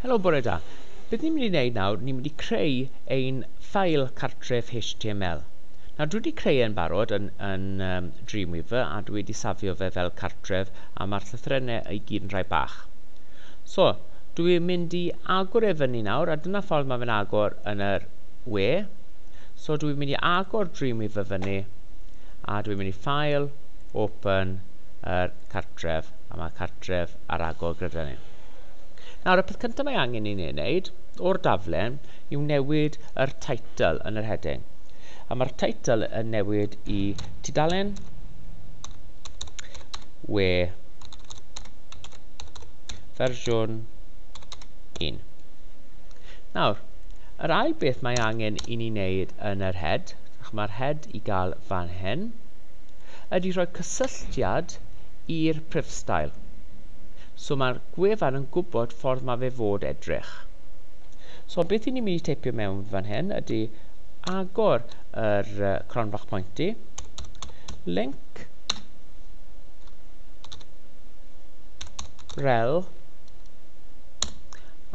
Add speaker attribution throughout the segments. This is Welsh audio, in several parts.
Speaker 1: Helo, bore da. Beth ni'n mynd i wneud nawr, ni'n mynd i creu ein ffail cartref HTML. Nawr, dwi wedi creu e'n barod yn, yn um, Dreamweaver a dwi wedi safio fe fel cartref a mae'r llythrennau i gyd yn rhai bach. So, dwi'n mynd i agor e fyny nawr a dyna ffordd mae fe'n agor yn yr we. So, dwi'n mynd i agor Dreamweaver fyny a dwi'n mynd i ffail, open, yr cartref. a mae cartref ar agor gyda ni. Nawr, y peth cyntaf mae angen i ni wneud o'r daflen yw newid yr title yn yr heading. A mae'r title yn newid i tudalen we fersiwn 1. Nawr, yr ail beth mae angen i ni wneud yn yr head, mae'r head i gael fan hyn, ydy rhoi cysylltiad Ffyrst i'r Prifstael. So mae'r gwefan yn gwybod ffordd mae fe fod edrych. So beth i ni'n mynd i teipio mewn fan hyn ydy agor yr uh, cron bach pointy, link rel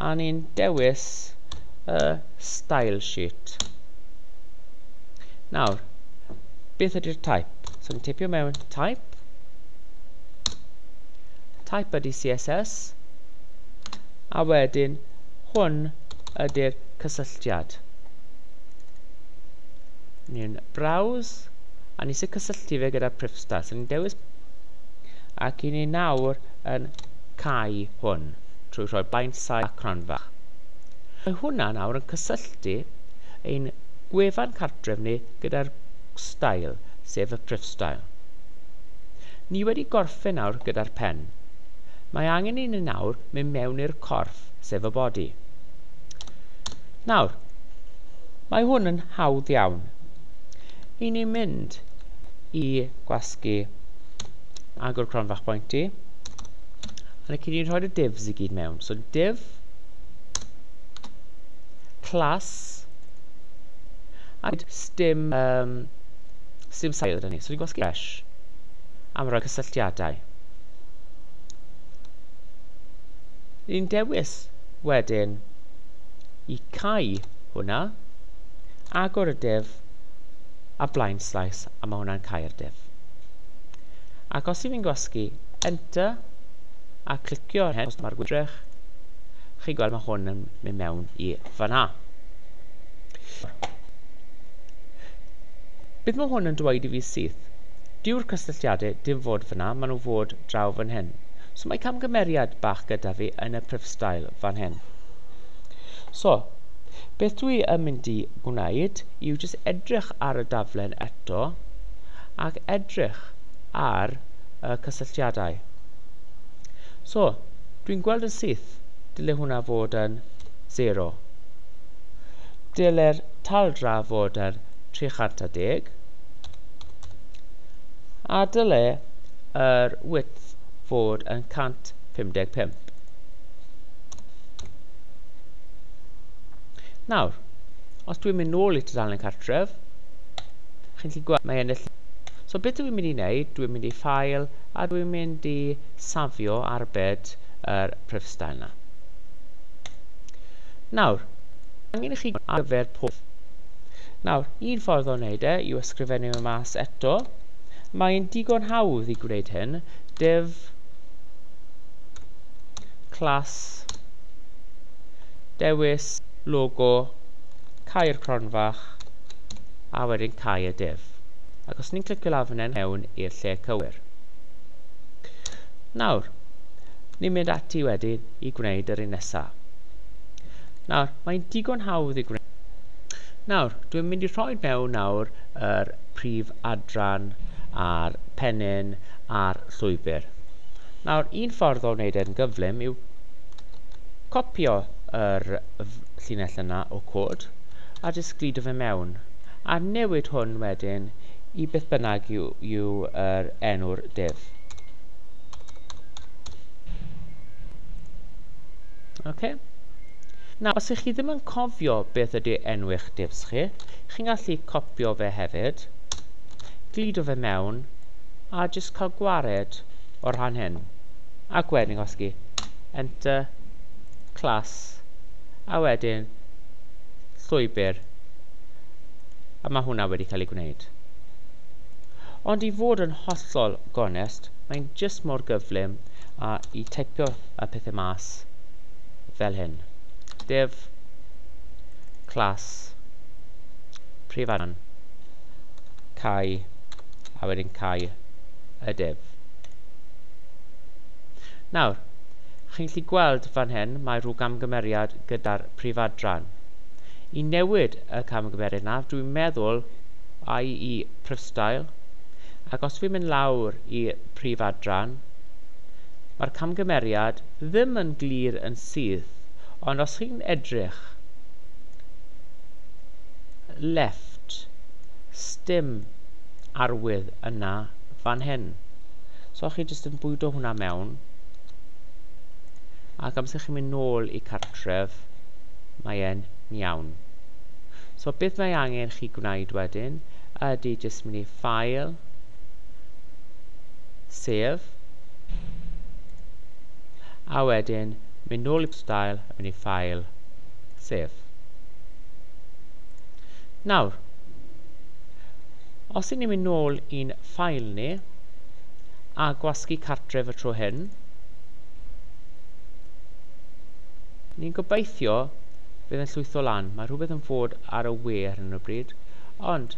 Speaker 1: a ni'n dewis y uh, style sheet. Nawr, beth ydy'r type? So ni'n tipio mewn type. Type ydy CSS. A wedyn, hwn ydy'r cysylltiad. Ni'n browse, a ni sy'n cysylltu fe gyda'r prifstad. So ni'n dewis, ac i ni nawr yn cau hwn, trwy rhoi baint sai a cronfach. Mae hwnna nawr yn cysylltu ein gwefan cartref ni gyda'r X-Style, sef y Prifstyle. Ni wedi gorffen nawr gyda'r pen. Mae angen i ni nawr mynd mewn i'r corff, sef y body. Nawr, mae hwn yn hawdd iawn. I ni mynd i gwasgu agor cronfach pointy, a ni cyd ni'n rhoi y divs i gyd mewn. So div, class, a Sdim yym sdim sail gyda ni. So dwi'n gwasgu fresh am roi cysylltiadau. Ni'n dewis wedyn i cau hwnna, agor y div a blind slice a mae hwnna'n cau'r div. Ac os i fi'n gwasgu enter a clicio ar hyn os mae'r gwydrych, chi'n gweld mae hwn yn mynd mewn i fanna. Beth mae hwn yn dweud i fi syth? Dyw'r cysylltiadau dim fod fan'na, maen nhw fod draw fan hyn. So mae camgymeriad bach gyda fi yn y prifstael fan hyn. So, beth dwi yn mynd i gwneud yw jyst edrych ar y daflen eto ac edrych ar y cysylltiadau. So, dwi'n gweld yn syth, dyle hwnna fod yn 0. Dylai'r taldra fod ar 310 a dylai yr width fod yn 155. Nawr, os dwi'n mynd nôl i tudalen cartref, chi'n gallu gweld mae ennill... So beth dwi'n mynd i wneud, dwi'n mynd i ffael a dwi'n mynd i safio arbed yr prifstyle yna. Nawr, mae angen i chi ar gyfer pob. Nawr, un ffordd o wneud e yw ysgrifennu fe mas eto. Mae'n digon hawdd i gwneud hyn. Div class dewis logo Cae'r Cronfach a wedyn Cae y Div. Ac os ni'n clicio lawr fan hyn mewn i'r lle cywir. Nawr, ni'n mynd ati wedyn i gwneud yr un nesa. Nawr, mae'n digon hawdd i gwneud. Nawr, dwi'n mynd i rhoi mewn nawr yr prif adran a'r pennyn a'r llwybr. Nawr, un ffordd o wneud e'n gyflym yw copio yr llinell yna o cod a jyst glidio fe mewn a newid hwn wedyn i beth bynnag yw, yw yr enw'r div. Okay. Nawr, os ych chi ddim yn cofio beth ydy enw eich divs chi, chi'n gallu copio fe hefyd, glido fe mewn, a jyst cael gwared o'r rhan hyn. Ac wedyn gosgi Enter, Class, a wedyn llwybr. A mae hwnna wedi cael ei gwneud. Ond i fod yn hollol gonest, mae'n jyst mor gyflym a i teipio y pethau mas fel hyn. Div class prif angen cau a wedyn cau y div. Nawr, chi'n gallu gweld fan hyn mae rhyw gamgymeriad gyda'r prif adran. I newid y camgymeriad yna, dwi'n meddwl, IE Prifstyle, Ac os fi'n mynd lawr i prif adran, mae'r camgymeriad ddim yn glir yn syth, ond os chi'n edrych left, sdim arwydd yna fan hyn. So chi jyst yn bwydo hwnna mewn, ac amser chi'n mynd nôl i cartref, mae e'n iawn. So beth mae angen chi gwneud wedyn ydy jyst mynd i File. Sef. A wedyn, mynd nôl i Style a mynd i File. Sef. Nawr, os i ni'n mynd nôl i'n ffail ni, a gwasgu cartref y tro hyn, ni'n gobeithio bydd yn llwytho lan. Mae rhywbeth yn fod ar y we ar hyn o bryd, ond